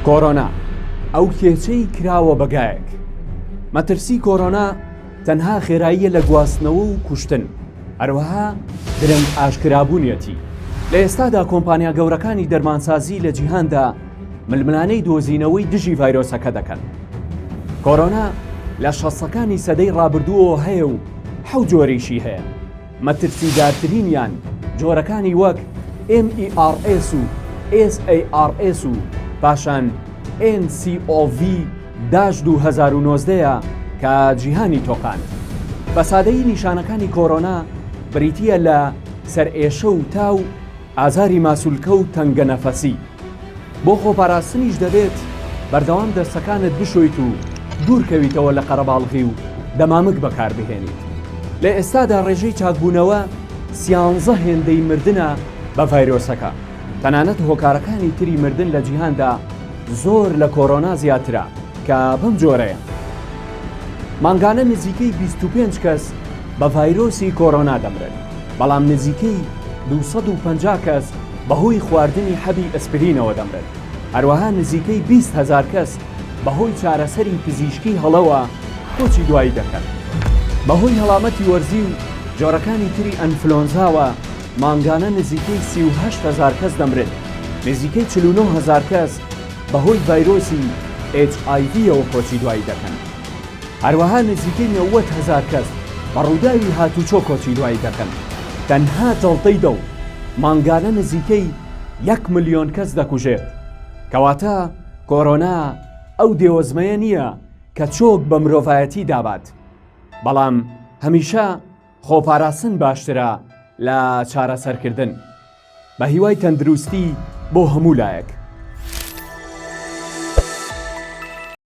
کۆرۆنا ئەو کێچەی کراوە بەگایەک مەترسی کۆرۆنا تەنها خێراییە لە گواستنەوە و کوشتن هەروەها درەنگ ئاشکرابوونیەتی لە ئێستادا کۆمپانیا گەورەکانی دەرمانسازی لە جیهاندا ململانەی دۆزینەوەی دژی ڤایرۆسەکە دەکەن کۆرۆنا لە شەستەکانی سەدەی ڕابردووەوە هەیە و حەوت جۆریشی هەیە، مەترسیدارترینیان جۆرەکانی وەک MERS و SARS و پاشان NCOV داش دوو هەزار و نۆزدە ە کە جیهانی تۆقاند. بە سادەیی نیشانەکانی کۆرۆنا بریتییە لە سەرئێشە و تا و. ئازاری ماسولکە و تەنگەنەفەسی، بۆ خۆپاراستنیش دەبێت بەردەوام دەستەکانت بشۆیت و دوورکەویتەوە لە قەرەباڵغی و دەمامک بەکاربهێنیت، لە ئێستادا ڕێژەی چاکبوونەوە سیانزە هێندەی مردنە بە ڤایرۆسەکە، تەنانەت هۆکارەکانی تری مردن لە جیهاندا زۆر لە کۆرۆنا زیاترە کە بەم جۆرەیە، مانگانە نزیکەی بیست و پێنج کەس بە ڤایرۆسی کۆرۆنا دەمرن. بەڵام نزیکەی دوو سەد و پەنجا کەس بەهۆی خواردنی حەبی ئەسپرینەوە دەمرن، هەروەها نزیکەی بیست هەزار کەس بەهۆی چارەسەری پزیشکی هەڵەوە کۆچی دوایی دەکەن. بەهۆی هەڵامەتی وەرزی و جۆرەکانی تری ئەنفلۆنزاوە مانگانە نزیکەی سی و هەشت هەزار کەس دەمرن، نزیکەی چل و نۆ هەزار کەس بەهۆی ڤایرۆسی HIV یەوە کۆچی دوایی دەکەن. هەروەها نزیکەی نەوەد هەزار کەس بە ڕووداوی هاتووچۆ کۆچی دوایی دەکەن، تەنها جەڵتەی دڵ مانگانە نزیکەی یەک ملیۆن کەس دەکوژێت، کەواتە کۆرۆنا ئەو دێوەزمەیە نییە کە چۆک بە مرۆڤایەتی دابات، بەڵام هەمیشە خۆپاراستن باشترە لە چارەسەرکردن. بەهیوای تەندروستی بۆ هەموو لایەک.